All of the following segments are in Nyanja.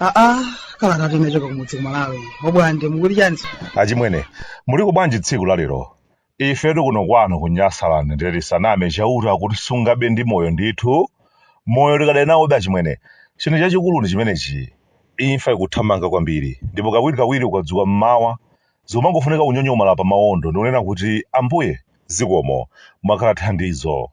aa kalata imachoka kumudzi kumalawi obwande mukuti chani achimwene muliko bwanji tsiku la lero Ifetu kuno kwanu ku Nyasaland ndiye tisaname Chauta akutisungabe ndi moyo ndithu. Moyo tikadali nawobe achimwene. Chinthu chachikulu ndi chimenechi. Imfa ikuthamanga kwambiri ndipo kawirikawiri ukadzuka m'mawa zikumangofunika kunyonyomala pamawondo ndi kunena kuti, Ambuye zikomo, mwakhala thandizo.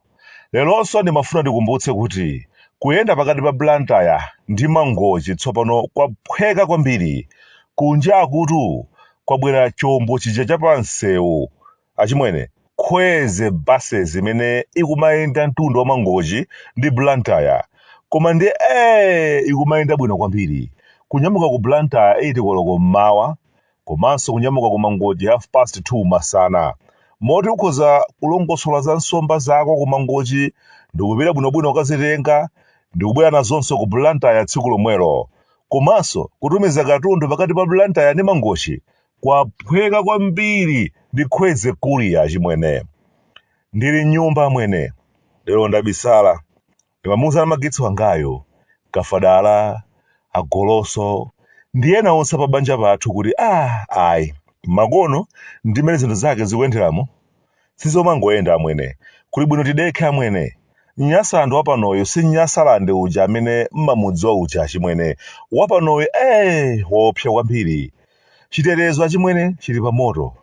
Leronso ndimafuna ndikumbutse kuti kuyenda pakati pa Blantyre ndi Mangochi tsopano kwaphweka kwambiri. Kunjakutu kwabwera chombo chija cha pamsewu. Achimwene, Kwezy buses imene ikumayenda mtunda wa Mangochi ndi Blantyre. Koma ndiye ee ikumayenda bwino kwambiri. Kunyamuka ku Blantyre 8 koloko m'mawa, komanso kunyamuka ku Mangochi half past 2 masana. Moti ukhoza kulongosola za nsomba zako ku Mangochi ndikupita bwinobwino kukazitenga ndikubwera nazonso ku Blantyre tsiku lomwelo. Komanso kutumiza katundu pakati pa Blantyre ndi Mangochi kwaphweka kwambiri ndi Kwezy Courier achimwene. Ndili m'nyumba amwene, lero ndabisala. Ndimamuuza namagetsi wangayo, Kafadala, a Goloso ndi ena onse apabanja pathu kuti aah ayi, makono ndi mmene zinthu zake zikuyenderamu sizomangoyenda amwene, kuli bwino tidekhe amwene. Nyasaland wapanoyu si Nyasaland uja amene mmamudziwa uja achimwene, wapanoyu eeh waopsa kwambiri. Chitetezo achimwene chili pamoto,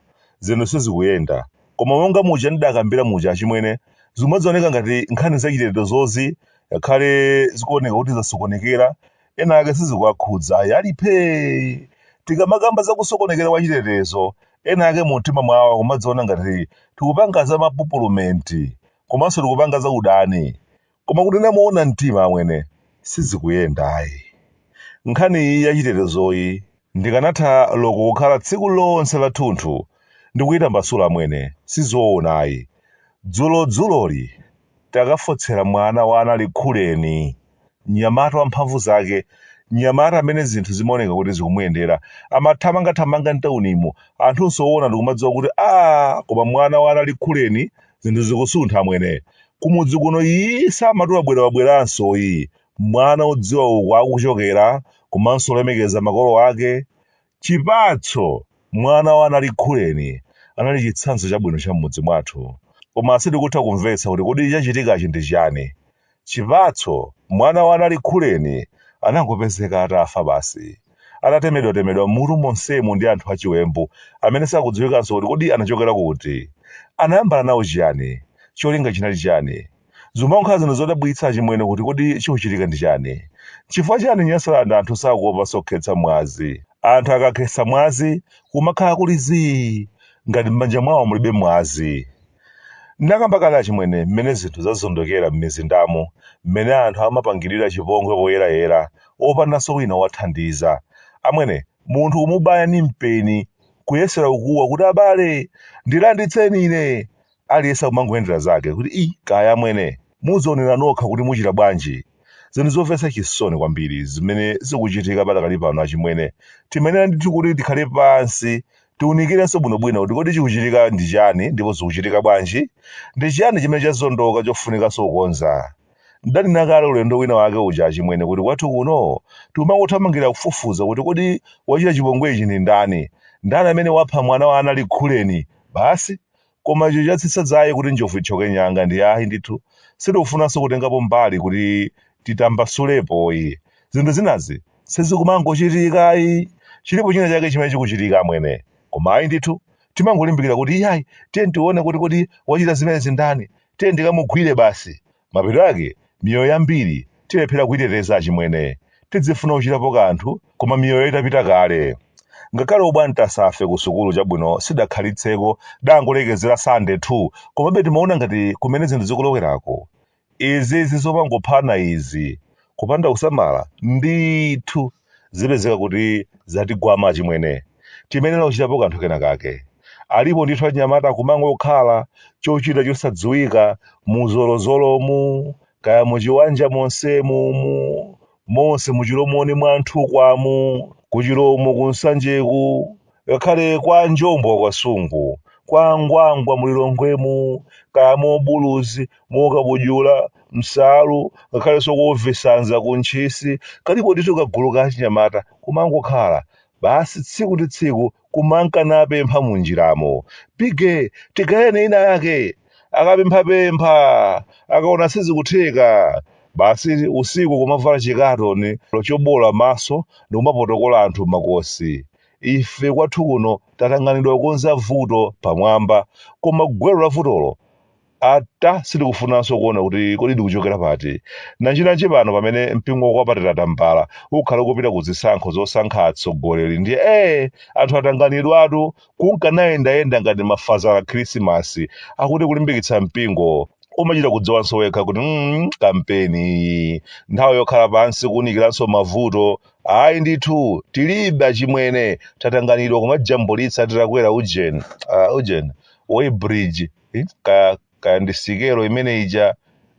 zinthu sizikuyenda. Koma monga muja ndidakambira muja achimwene, zimadzioneka ngati nkhani zachitetezozi ngakhale zikuoneka kuti zasokonekera, ena ake sizikuwakhudza ayi, ali phee! Tikamakamba za kusokonekera kwa chitetezo, ena ake mumtima mwawo akumadziona ngati tikupanga za mapupulumenti komanso tikupanga za udani. Koma kunena moona mtima amwene sizikuyenda ayi. Nkhani iyi ya chitetezoyi ndikanatha loko kukhala tsiku lonse la thunthu ndikuyitambasula amwene sizoona ayi. Dzulo dzuloli takafotsera mwana wa a Nalikhuleni, mnyamata wa mphamvu zake, mnyamata amene zinthu zimaoneka kuti zikumuyendera, amathamangathamanga mtaunimu anthunso owona ndikumadziwa kuti aah koma mwana wa a Nalikhuleni, zinthu zikusuntha amwene kumudzi kuno iyi samati wabwera wabweranso iyi mwana odziwa uko akuchokera komanso olemekeza makolo ake chipatso mwana wa a Nalikhuleni anali chitsanzo chabwino cha m'mudzi mwathu koma sitikutha kumvetsa kuti kodi chachitikachi ndi chani Chipatso, Mwana wa aNalikhuleni anangopezeka atafa basi. Atatemedwatemedwa m'mutu monsemu ndi anthu achiwembu amene sakudziwikanso kuti kodi anachokera kuti? Anayambana nawo chiyani? Cholinga chinali chani? Zikumakhala zinthu zodabwitsa achimwene kuti kodi chikuchitika ndi chani? Nchifukwa chani Nyasaland anthu sakuopanso kukhetsa mwazi? Anthu akakhetsa mwazi kumakhala kuli zii ngati m'manja mwawo mulibe mwazi. N'nakamba kale achimwene mmene zinthu zazondokera m'mizindamo, mmene anthu amapangirira chipongwe poyerayera, opandanso wina owathandiza. Amwene, munthu kumubaya ni mpeni, kuyesera kukuwa kuti abale! Ndilanditseni ine! Aliyense kumangoyendera zake, kuti ii, kaya amwene! Mudzionera nokha kuti muchita bwanji. Zinthu zomvetsa chisoni kwambiri zimene zikuchitika padakali pano achimwene. Timayenera ndithu kuti tikhale pansi Tiunikirenso bwinobwino kuti kodi chikuchitika ndi chiyani ndipo zikuchitika bwanji? Ndi chiyani chimene chazondoka chofunikanso kukonza? Ndidanena kale ulendo wina wake uja achimwene kuti kwathu kuno tikumangothamangira kufufuza kuti kodi wachita chipongwe ichi ndi ndani? Ndani amene wapha mwana wa aNalikhuleni? Basi? Koma icho chatsitsa dzaye kuti njovu ithyoke nyanga ndiye ayi ndithu sitikufunanso kutengapo mbali kuti titambasulepo ayi. Zinthu zinazi sizikumangochitika ayi. Chilipo china chake chimene chikuchitika amwene. Koma ayi ndithu timangolimbikira kuti iyayi tiyeni tione kuti kodi wachita zimenezi ndani? Tiyeni tikamugwire basi. Mapeto ake, miyoyo yambiri tilephera kuiteteza achimwene. Tidzifuna kuchitapo kanthu koma miyoyo itapita kale. Ngakhale obwantasafe ku sukulu chabwino sitidakhalitseko tidangolekezera Standard 2 komabe timaona ngati kumene zinthu zikulowerako. Izizi zomangophana izi. Kupanda kusamala ndithu. zipezeka kuti zatigwama achimwene timayenera kuchitapo kanthu kena kake alipo ndithu achinyamata kumangokhala chochita chosadziwika muzolozolomu kaya muchiwanja monsemu mu monse muchilomoni mwa nthukwamu kuchilomo kunsanjeku ngakhale kwa njombo kwa sungu kwa angwangwa mulilongwemu kaya mobuluzi mokabudula msalu ngakhalenso kovesanza ku ntchisi kalipo ndithu kagulu ka achinyamata kumangokhala basi tsiku ndi tsiku kumanka napempha munjiramo bige tigayireni ina yake akapemphapempha akaona sizikutheka basi usiku kumavala chikatoni chobola maso ndi kumapotokola anthu makosi ife kwathu kuno tatanganidwa kukonza vuto pamwamba koma gwero la vutolo ata sitikufunanso kuona kuti kodi likuchokera pati nanjinanji pano pamene mpingo wakwapatira tambala ukhale ukupita ku zisankho zosankha atsogoleri ndiye ee anthu atanganidwatu kunka nayendayenda ngati mafazala khrisimasi akuti kulimbikitsa mpingo umachita kudziwanso wekha kuti mm, kampeni iyi nthawi yokhala pansi kuunikiranso mavuto Ayi ndithu tilibe achimwene tatanganidwa kumajambulitsa titakwera ujeni uh, ujeni weighbridge eh, kaya kaya ndi sikelo imene ija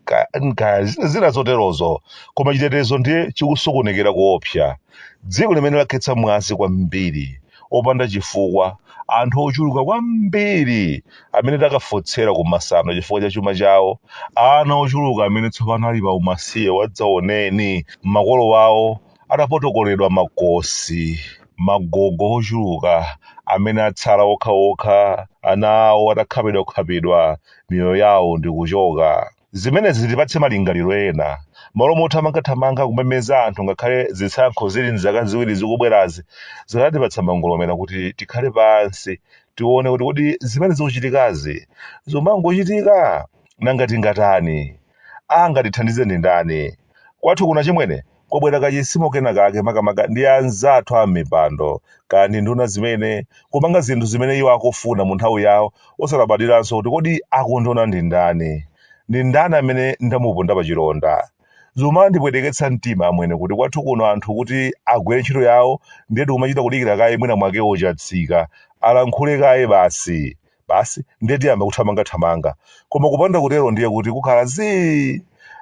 ka- ka- zina zina zoterozo koma chitetezo ndiye chikusokonekera kuopsa dziko limene lakhetsa mwazi kwambiri opanda chifukwa anthu ochuluka kwambiri amene takafotsera ku masano chifukwa cha chuma chawo ana ochuluka amene tsopano ali pa umasiye wadzaoneni makolo awo atapotokoledwa makosi magogo ochuluka amene atsala okhaokha ana awo atakhapidwakhapidwa miyoyo yawo ndikuchoka Zimenezi zitipatse malingaliro ena. M'malo mothamangathamanga kumemeza anthu ngakhale zisankho zili m'zaka ziwiri zikubwerazi, zikanatipatsa mangolomera kuti tikhale pansi tione kuti kodi zimene zikuchitikazi zomangochitika? Nanga tingatani? Angatithandize ndi ndani? Kwathu kuno achimwene, kwabwera kachizimo kena kake makamaka ndi anzathu a m'mipando kaya ndi nduna zimene, kupanga zinthu zimene iwo akufuna mu nthawi yawo osalabadiranso kuti kodi akundiona ndi ndani? Ndi ndani amene ndamuponda pachilonda? Zomandipweteketsa mtima amwene kuti kwathu kuno anthu kuti agwire ntchito yawo ndiye tikumachita kudikira kaye mwinamwake ochatsika alankhule kaye basi. Basi, ndiye tiyamba kuthamangathamanga. Koma kupanda kutero ndiye kuti kukhala zii!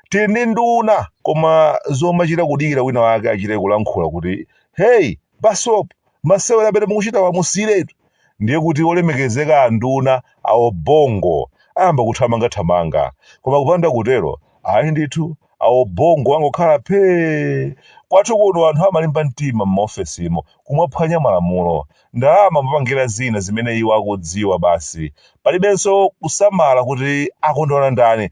Tili ndi nduna, koma zomachita kudikira wina wake achite kulankhula kuti, Hey, Basopo, masewera amene mukuchitawa musiyiretu! Ndiye kuti olemekezeka anduna awo bongo ayamba kuthamangathamanga. Koma kupanda kutero, ayi ndithu, awo bongo angokhala phee kwathu kuno anthu amalimba mtima m'maofesimo kumaphwanya malamulo ndalama amapangira zina zimene iwo akudziwa basi palibenso kusamala kuti akundiona ndani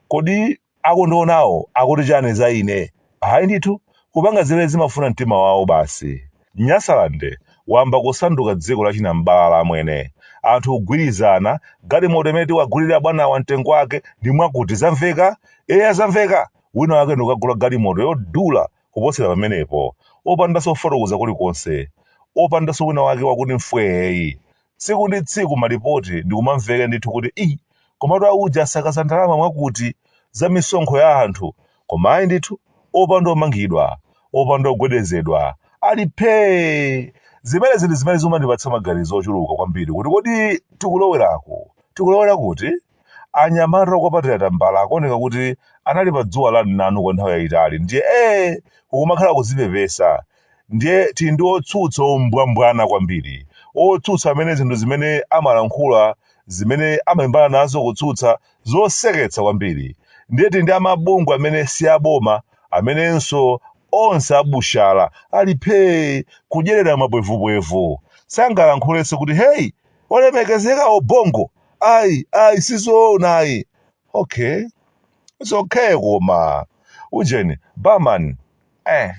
kodi akundionawo akuti chani za ine ayi ndithu kupanga zimene zimafuna mtima wawo basi Nyasaland wamba kusanduka dziko la chinam'balala amwene. Anthu kugwirizana, galimoto imene tiwagulire abwanawa mtengo wake ndi mwakuti. Zamveka? Eya zamveka! Wina wake ndikukagula galimoto yodula kuposera pamenepo. Opandanso kufotokoza kulikonse. Opandanso wina wake wakuti mfwee. Tsiku ndi tsiku malipoti ndikumamveka ndithu kuti ii komatu auje asakaza ndalama mwakuti, za misonkho ya anthu, koma ayi ndithu, opanda omangidwa, opanda ogwedezedwa, ali phee! Zimenezi ndi zimene zikumandipatsa maganizo ochuluka kwambiri kuti kodi tikulowera ku. tikulowera kuti? Anyamata okwapatira tambala akuoneka kuti anali pa dzuwa la mnanu kwa nthawi yayitali ndiye ee kukumakhala kuzipepesa ndiye tili ndi otsutsa ombwambwana kwambiri, otsutsa amene zinthu zimene amalankhula zimene amalimbana nazo kutsutsa zoseketsa kwambiri ndiye tili ndi amabungwe amene si aboma amenenso onse a bushala ali phee kudyerera mapwevupwevu sangalankhulenso kuti hey olemekezeka Obongo! ayi ayi sizoona ayi okay it's okay koma ujeni barman eh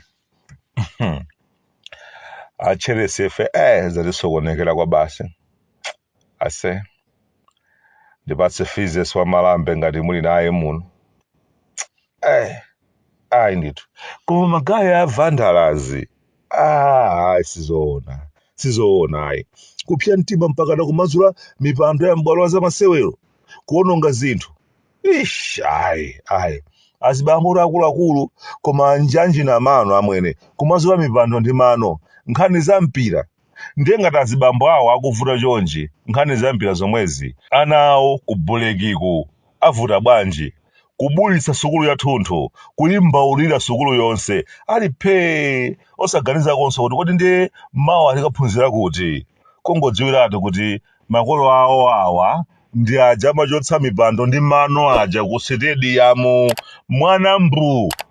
acheresefe eh zatisokonekera kwa basi ase ndipatse fizes wa malambe ngati muli naye muno eh ayi ndithu koma magaye a vandalazi ah ayi sizoona sizoona ayi kupsa mtima mpakana kumazula mipando ya m'bwalo la zamasewero kuononga zinthu ish ayi ayi azibambo akuluakulu koma njanji na mano amwene kumazula mipando ndi mano nkhani za mpira ndiye ngati azibambo awo akuvuta chonchi nkhani za mpira zomwezi ana awo ku bulekiku avuta bwanji? kubulitsa sukulu yathunthu kuyimbaulira sukulu yonse ali phee osaganizakonse kuti kodi ndiye mawa tikaphunzira kuti? kungodziwiratu kuti makolo awo awa ndi aja amachotsa mipando ndi mano aja ku sitediyamu mwana mbuu!